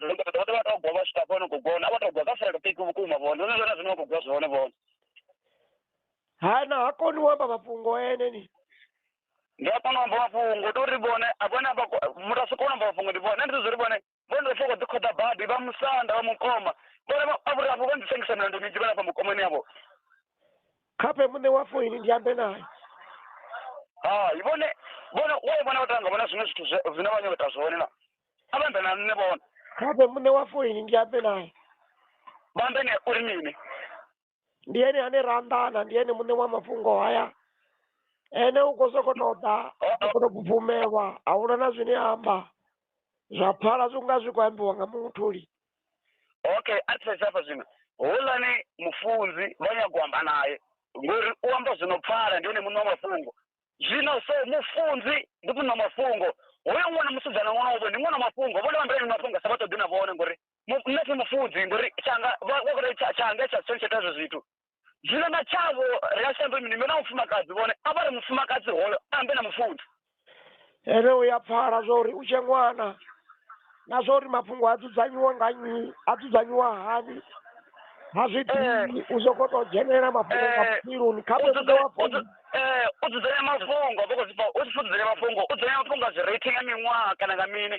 ndo ndo ndo vha to gwa vha swika fhano khou gona a vha to gwa kha fulelo piki vhukuma vhone ndo zwona zwine vha khou gwa zwone vhone hana ha koni u amba mafhungo ene ni ndi a kona u amba mafhungo ndi uri vhone a vhone amba muthu a si kona u amba mafhungo ndi vhone ndi zwo ri vhone vhone ndo foko ḓi khoḓa badi vha musanda vha mukoma vhone vha- a vhuri afho vha nḓisengisa milandu minzhi vhana fha mukomani yavho khape muṋe wa foini ndi ambe naye hai vhone vhone waye vhona vha tanga vhona zwiṅwe zwithu zwe- zwine vha nyota zwone na abambe na nne bona kape mune wa foini ndi ambe naye bambe ne uri mini ndi ene ane ra anḓana ndi ene muṋe wa mafhungo haya ene u khou sokou tou ḓa u khou tou bvumelwa a huna na zwine a amba zwa pfala zwi nga zwi khou ambiwa nga muṅwe thuli okay a thetshe hafha zwino houḽani mufunzi vha nyago u amba naye ngori u amba zwino pfala ndi ene muṋe wa mafhungo zwino so mufunzi ndi muṋa mafhungo hoyo ṅwana musidzana ṅwanavho ndi ṅwana mafhungo vhone vha mbilani mafhungo sa vha ṱoḓi na vhone ngori mu- nṋe thi mufunzi ngori tshanga vha vha kore tsha- tshanga tsha tsho tsha zwo zwithu zwino na tshavho ri a shambe mini na mufumakadzi vhone a vha ri mufumakadzi hoyo ambe na mufunzi Ene u ya pfala zwa uri u tshe ṅwana na zwa uri mafhungo a dzudzanyiwa nga nnyi a dzudzanyiwa hani ha zwi ḓivhi u sokou tou dzhenelela mafhungo nga vhutshiloni kha vhe muṋe wa founu Eh, u dzudzanya mafhungo vha khou zwi pfa u tshi dzudzanya mafhungo u dzudzanya mafhungo a zwi rating ya miṅwaha kana nga mini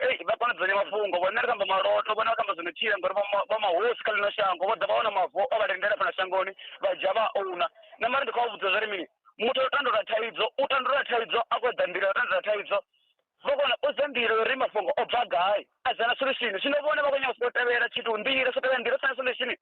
ei vha kona dzudzanya mafhungo vhone ri kamba maloto vhone vha kamba zwino tshila ngori vha mahosi kha ḽino shango vho ḓa vha wana mavo o vha lindela fhano shangoni vha dzhia vha ouna na mara ndi khou vha vhudza zwa ri mini muthu o tandulula thaidzo u tandulula thaidzo a khou ḓa nḓila ya u tandulula thaidzo vha kona u dza nḓila uri mafhungo o bva gai a dzana solution zwino vhone vha khou nyanga u sokou tevhela tshithu nḓila so tevhela nḓila u sina solution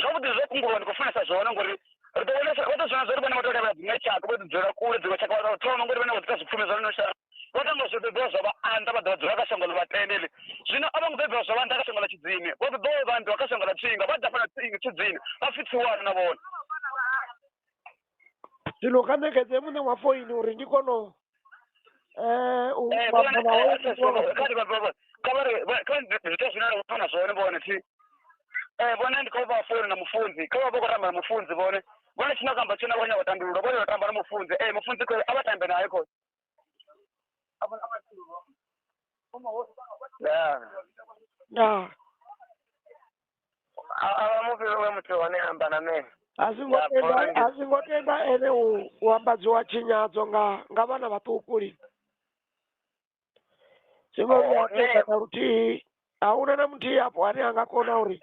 zwavhuḓi zwo kungulwa ndi khou funesa zwone ngori ri ḓo vhona vha ḓo zwona zwo ri vhone vha tou levha dziṅwe tshaka vho ḓi dzula kule dziṅwe tshaka vha thoma ngori vhone vho ḓita zwipfumi zwa lino shango vho tamba zwo bebiwa zwa vha anḓa vha ḓo vha dzula kha shango ḽa vhatendeli zwino a vho ngo bebiwa zwa vha anḓa kha shango ḽa tshidzini vho ḓo vha vha anḓiwa kha shango ḽa tsinga vha ḓa fhana tshidzini vha pfhi tsiwana na vhone zwino kha ṋekedze muṋe wa foini uri ndi kone u eh, u Eh, amba vhona, nawe eh, ndi kone u- kha ri vha- vha- vha- kha vha ri- vha- kha vha ndi- zwiita zwine ra fana zwone vhone thi Eh, vhone ndi khou vha founu na mufunzi kha vha vha khou tamba na mufunzi vhone vhone tshine kamba tshine vha khou nyanga u tandulula vhone vha tamba na mufunzi ee mufunzi khou a vha tambe naye khou ndaa ndaa A- a vha mufhe we muthu hone amba na me a zwi ngo Ya, tenda Poland. a zwi ngo tenda ene u u ambadziwa tshinyadzo nga nga vhana vhaṱuku lini zwi ngo Oh, vhuya nṋe- tenda na luthihi a huna na muthihi afho ane a nga kona uri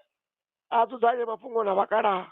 a dzudzanye mafhungo na vhakalaha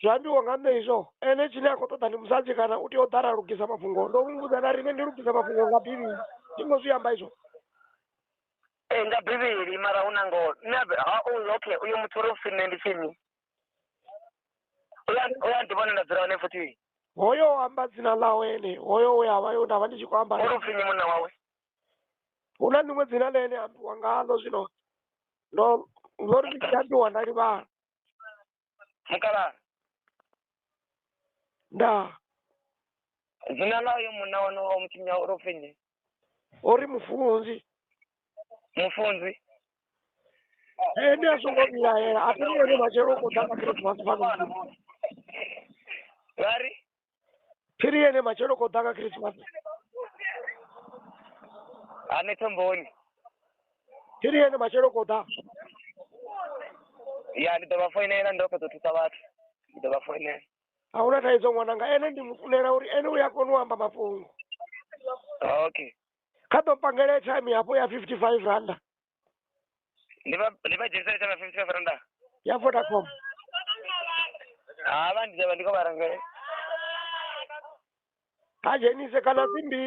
zwi ambiwa nga nṋe izwo ene tshine a khou ṱoḓa ndi musadzi kana u tea u ḓara a lugisa mafhungo ndo muvhudza na riṋe ndi lugisa mafhungo nga bivhili ndi ngo zwi amba izwo ee nga bivhili mara hu na ngoho nṋe ha uyu okay uyo muthu uri upfhi nṋe ndi tshini uya uya ndi vhona nda dzula hone futhi hoyo amba dzina ḽawe ene hoyo we avha yo ndavha ndi tshi khou amba uri upfhi nyi munna wawe hu na ḽiṅwe dzina ḽe ene ambiwa ngaḽo zwino ndo ndo ri ndi tshi aṱuwa nda livhala mukalaha ndaa dzina ḽa uyo munna wanu wa mutshinya uri upfhi nnyi o ri mufunzi mufunzi ene a songo vhilaela a teni ene matshelo u khou ḓa nga khirisimas fano vha ri phiri yene matshelo ko ḓa nga khirisimasi ha ni thomboni phiri yene matshelo ko ḓa ya ndi ḓo vha foinela ndo fhedza u thusa vhathu ndi ḓo vha foinela a huna thaidzo ṅwananga ene ndi mu funela uri ene u ya kona u amba mafhungo okay kha ḓo pangele time hafho ya fifty five randa ndi va ndi va dzhenisa letsha va fifty five randa ya vodacom ha va ndi dzhava ndi ko va rangele ha dzhenise kana dzimbili